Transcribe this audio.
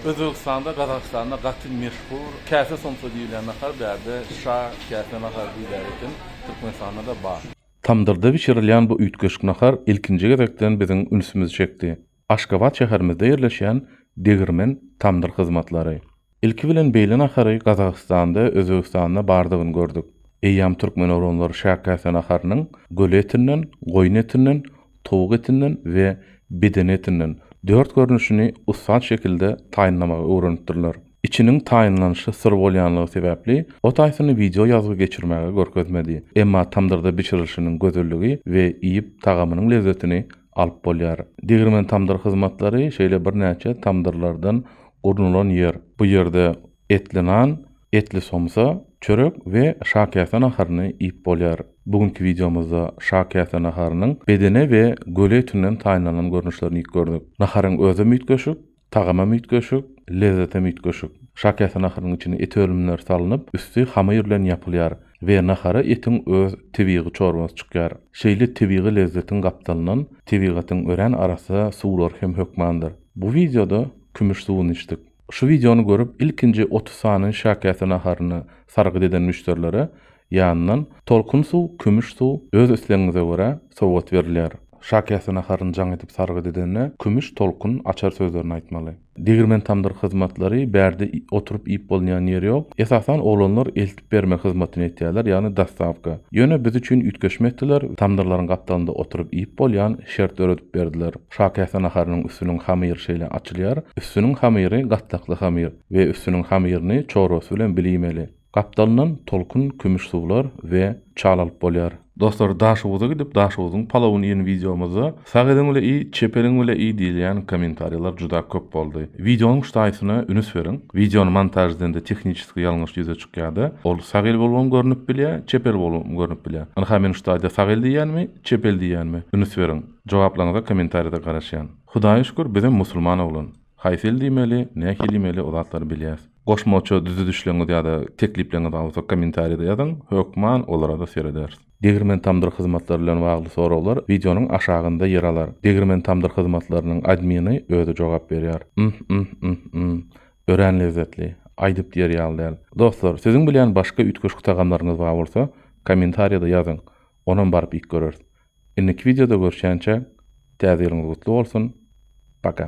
Özbegistanda, Gazagystanda gaty meşhur käse somsa diýilýän nahar bärde şa käse nahary diýilýär eken, Türkmenistanda-da bar. Tamdyrda bişirilýän bu üýtgeşik nahar ilkinji gezekden biziň ünsümizi çekdi. Aşgabat şäherimizde ýerleşýän Degirmen tamdyr hyzmatlary. Ilki bilen beýle nahary Gazagystanda, Özbegistanda bardygyny gördük. Eýýäm türkmen oglanlary şa käse naharynyň göle etinden, goýun etinden, towuk etinden we bedene etinden dört görnüşini ussat şekilde taýynlamagy öwrenipdirler. Içiniň taýynlanyşy syr bolýanlygy sebäpli, o taýsyny wideo ýazgy geçirmäge görkezmedi. Emma tamdyrda bişirilişiniň gözelligi we iýip tagamynyň lezzetini alyp bolýar. Degirmen tamdyr hyzmatlary şeýle birnäçe tamdyrlardan gurnulan ýer. Bu ýerde Etli nan, etli somsa, çörek we şakäse naharyny iýip bolýar. Bu günki wideomyzda şakäse naharynyň bedene we göle etinden taýynlanan görnüşlerini iýip gördük. Naharyň özem üýtgeşik, tagamam üýtgeşik, lezzetem üýtgeşik. Şakäse naharynyň içine et önümleri salnyp, üsti hamyr bilen ýapylýar we nahara etiň öz tebigy çorbasy çykýar. Şeýle tebigy lezzetiň gapdalyndan tebigatyň örän arassa suwlary hem hökmandyr. Bu wideoda kümüş suwuny içdik. Şu wideony görüp ilkinji otuz sany şakäse naharyny sargyt eden müşderilere ýanyndan Tolkun suw, Kümüş suw, öz islegiňize görä, sowgat berilýär. Şakäse naharyny jaň edip sargyt edende Kümüş, Tolkun, Açar sözlerini aýtmaly. Degirmen tamdyr hyzmatlary, bärde oturyp iýip bolunýan ýer ýok. Esasan oglanlar bermek hyzmatyny etýärler, ýagny dostawka. Ýöne biz üçin üýtgeşme etdiler, tamdyrlaryň gapdalynda oturyp iýip bolýan şert döredip berdiler. Şakäse naharynyň üstüniň hamyry şeýle açylýar, üstüniň hamyry gatlakly hamyr we üstüniň hamyryny çorbasy bilen bile iýmeli. Gapdalyndan tolkun kümüş suwlar we çal alyp bolýar. Dostlar Daşoguza gidip Daşoguzyň palawyny iýen wideomyzda sag eliň bile iý çep eliň bile iý diýilýän kommentariýalar juda köp boldy. Wideonyň ştaýsyna ünüs beriň. Wideony montaž edende tehniçeskiý ýalňyş ýüze çykýada ol sag el bolubam görnüp bilýä çep el bolubam görnüp bilýä. Ynha men ştaýda sag el diýýänmi çep el diýýänmi ünüs beriň. Jogaplaryňyza kommentariýada garaşýan. Hudaýa şükür bizem musulman oglan. Haýsy il diýmeli, nähili diýmeli o zatlary bilýäs. Goşmaça düzüdişleriňiz ýa-da teklipleriňiz bar bolsa kommentariýada ýazyň, hökman olara-da serederis. Degirmen tamdyr hyzmatlary bilen bagly soraglar wideonyň aşagynda ýer alar. Degirmen tamdyr hyzmatlarynyň admini özi jogap berýär. Ymh ymh ymh ymh. Örän lezzetli. Aýdyp diýer ýaly däl. Dostlar, siziň bilýän başga üýtgeşik tagamlaryňyz bar bolsa, kommentariýada ýazyň. Onam baryp iýip göreris. Indiki wideoda görşänçä Täze ýylyňyz gutly bolsun. Paka.